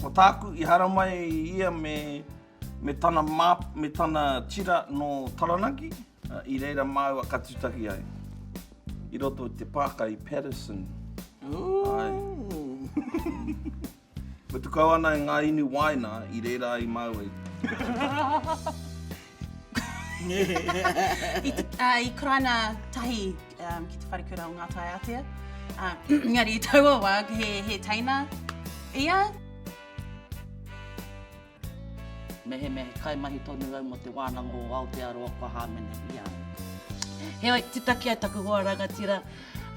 Ko tāku i haramai i ia me me tana map me tana tira nō Taranaki, i reira māua ka tutahi ai. I roto i te pāka i Paterson. Mutu kau ana e ngā inu wāina i reira ai māua i. I te, ā, i Karaina tahi um, ki te wharekura o Ngātai Ātea. Ā, engari i taua wā, he, he teina ia. Mehemea he kaimahi tonu au mō te wānanga o Aotearoa kua hāmene i a au. Heoi, titaki ai taku hoa rangatira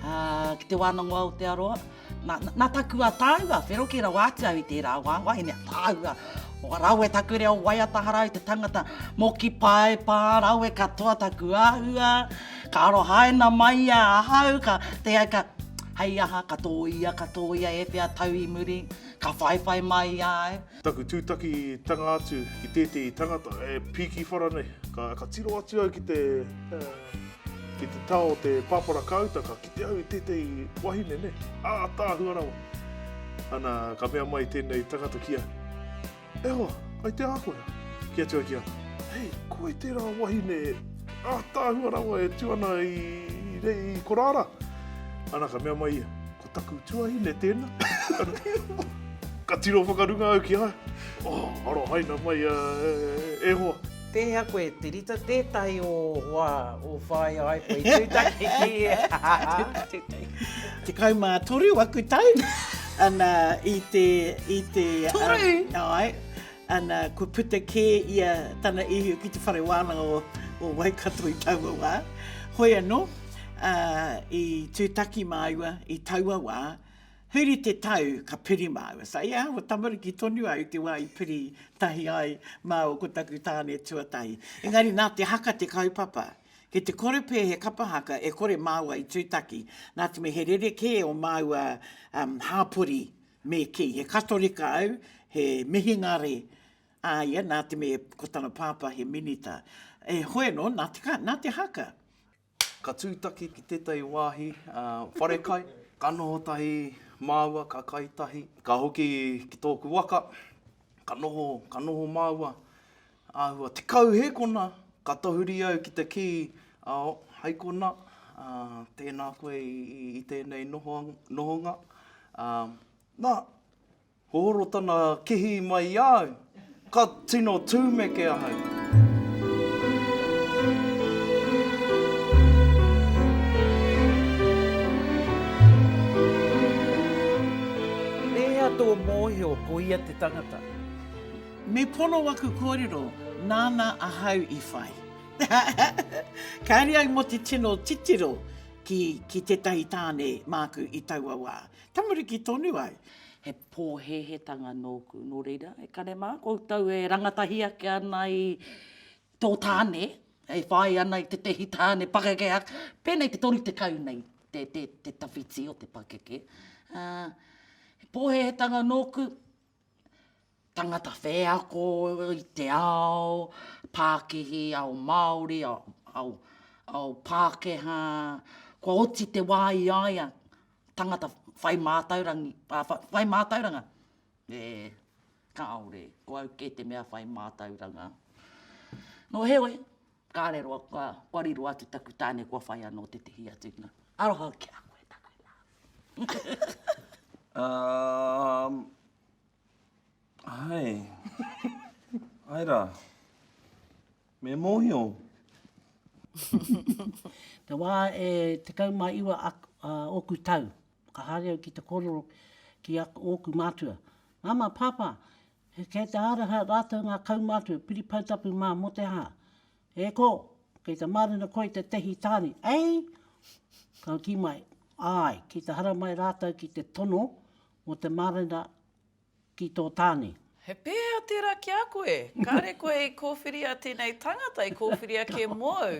ā, ki te wānanga o Aotearoa. Na, na taku a tāua, whero kē rawa atu au i tērā wā, wahine a tāua. O rawe taku reo waiata hara au te tangata, moki pae pā rawe katoa taku āhua, ka arohaina mai ia ahau, ka te ai ka, hei aha, ka tōia, ka tōia e whea tau i muri, ka whaiwhai mai ia au. Taku tūtakitanga atu ki tētehi tangata e pīki whara nei, ka tiro atu au ki te tao o te pāpara kāuta, ka kite au i tētehi wahine nei, ātaahua rawa. Ana, ka mea mai tēnei tangata ki a, E hoa, ai te ākoia? Ki atu au ki a, Hei, ko wai tērā wahine ātaahua rawa e tū ana i korāra? Ana, ka mea mai ia, Ko taku tuahine tēnā. ka tiro whakarunga au ki a. Oh, aro haina mai a e hoa. Pēhea koe, Te Rita, tētahi o wā, o whāia ai koe i tūtaki ki e. Tekau mā toru aku tau, ana i te, i te. Toru? Um, ai. Ana, kua puta kē ia tana ihu ki te whare wānanga o Waikato i taua wā. Hoi anō, ā, i tūtaki māua i taua wā, huri te tau ka piri māua. So, yeah, kua tamariki tonu au i te wā i piri tahi ai māua ko taku tāne tuatahi. Engari nā te haka te kaupapa. Kei te kore pea he kapa haka e kore māua i tūtaki, nā te mea he rerekē o māua hāpori Me kī, he Katorika au, he mihingare a ia, nā te mea ko tana pāpā he minita. E hoe anō, nā te, nā te haka. Ka tūtaki ki tētahi wāhi whare kai. Ka noho tahi māua, ka kai tahi. Ka hoki ki tōku waka, ka noho, ka noho māua. Āhua tekau hē kona, ka tahuri au ki te kī, ao, hai kona, ā, tēnā koe i tēnei nohonga. Ā, nā, hohoro tana kihī mai i a au, ka tino tūmeke ahau. E hia tō mōhio ko ia te tangata? Me pono aku kōrero, nāna ahau i whai. Kāre au mō te tino titiro ki tētahi tāne māku i taua wā. Tamariki tonu au. He pōhēhētanga nōku, nō reira, e kare mā, koutou e rangatahi ake ana i tō tāne, e whai ana i tētahi tāne pakeke, pēnei te 30 nei te tawhiti o te pakeke. He pōhēhētanga nōku, tangata wheako i te ao pākihi, ao Māori, ao Pākehā, kua oti te wā i a ia tangata whai mātauranga, e kāore, ko au kē te mea whai mātauranga. Nō heoi. Kāre roa kua wari roa atu taku tāne kua whai anō tētehi atu na. Aroha ki a koe tana love. Um, hai. hai rā. Me mōhio. Te wā e tekau mā iwa a, a ōku tau, ka haere au ki te kōrero ki a ōku mātua. Māmā, Pāpā, Kei te haraha rātou ngā kaumātua piripautapu mā mō te hā. E kō, kei te mārena koe i te tehi tāne, ei? Ka kī mai, Āe, ki te haramai rātou ki te tono mō te mārena ki tō tāne. He pēhea tērā ki a koe? Kāre koe i kōwhiria tēnei tangata i kōwhiria kē mōu.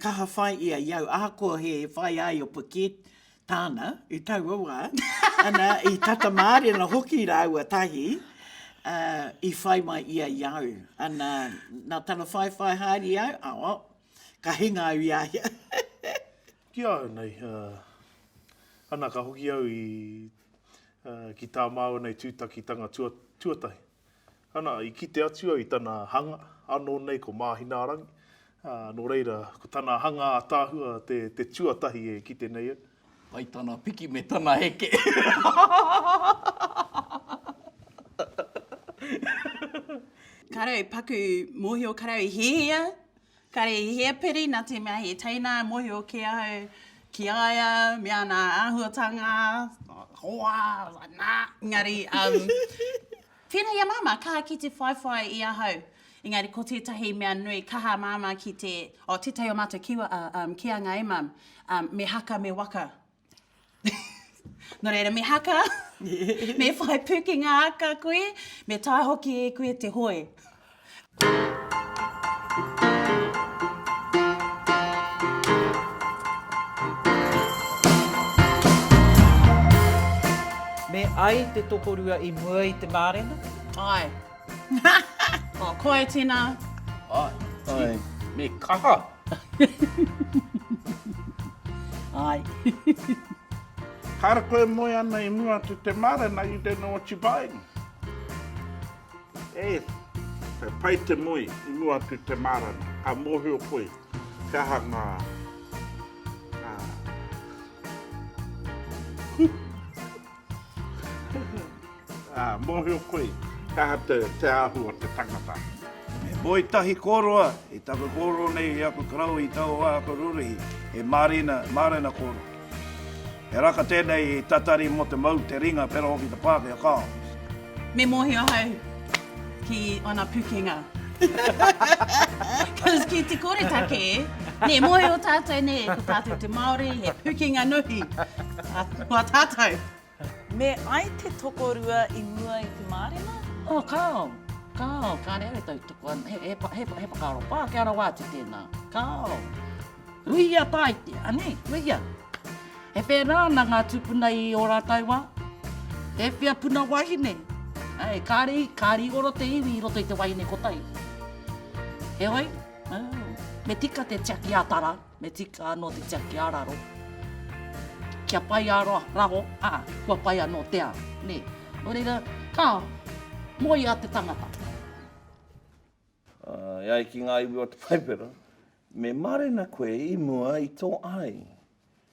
Kaha whai ia i au, ahakoa he whai ai o Paquette tāna i taua wā, ana, i tata mārena hoki rāua tahi, ā, i whai mai ia i au. Ana, nā tana whaiwhai haere i au, ā, oh, ka hinga au i a ia. Ki a au nei, ā, ana, ka hoki au i, ā, ki tā māua nei tūtakitanga tua, tuatahi. Ana, i kite atu au i tana hanga, anō nei ko Māhinaarangi, ā, nō reira, ko tana hanga ātaahua te, te tuatahi e kite nei au. Pai tana piki me tana heke. Kāre au paku mōhio, kāre au i hiahia. Kare i hea piri na te mea he teina e mohio ke au ki a ia me ana ahuatanga hoa na engari um tena ia mama kaha ki te whaiwhai i ahau engari ko tetahi mea nui kaha mama ki te oh tetahi o matou kiwa a um ki a nga e mam um me haka me waka Nō reira, me haka, me whai pūkenga aka koe, me taea hoki e koe te hoe. Me ai te tokorua i mua i te mārena? Ae. Oh, ko ai tēnā. Ai. Me kaha. Ai. Ka rako e moe ana i mua atu te mare na you don't know what you buying. E, he pai te moe i mua atu te mare na, ka mohio koe he aha nga, nga. Ā, mōhio koe, kaha te, te ahu o te tangata. He moe tahi kōroa i taku kōrero nei i aku karaui i taua wā aku rūrihi, he mārena, mārena kōroa. He raka tēnei tatari mō te mau, te ringa, pērā hoki te Pākehā, kāo. Me mōhio ahau ki ōna pukenga. Cause ki te kore take, nē, mōhio tātou, nē, ko tātou te Māori, he pukenga nuhi. Ko a tātou. Me ai te tokorua i mua i te mārena? Oh, kāo, kāo, kāre au e tautoko ana, he, he, he, he whakaaro pākehā rawa atu tēnā. Kāo. Ruia Taite, anei, ruia. E pērā ana ngā tūpuna i ō rātou wā. E whia puna wahine, ai, kāre, kāre i oro te iwi i roto i te wahine kotahi. Heoi, me tika te tiaki a tara, me tika anō te tiaki a raro. Kia pai a raho, a, kua pai anō te ao, nē. Nō reira, ka moe a te tangata. E ai ki ngā iwi o te Paipera, Me marena koe i mua i to ai.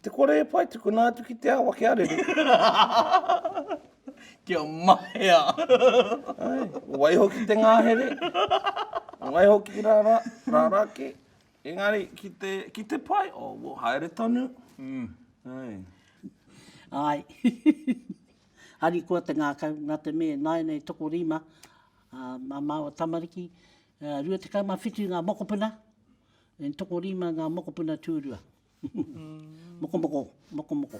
Te kore e pai tukuna atu ki te awa kia rere. Kia mahea. Ai, waiho ki te ngahere. Waiho ki ra ra, ra ra ke. Engari, ki te, ki te pai, o, oh, wo, haere tonu. Mm. Ai. Ai. Harikoa te ngakau, na te me, naenei toko rima, a, ma maua tamariki, 27 ngā mokopuna, and tokorima ngā mokopuna tūrua. Mokomoko, mokomoko.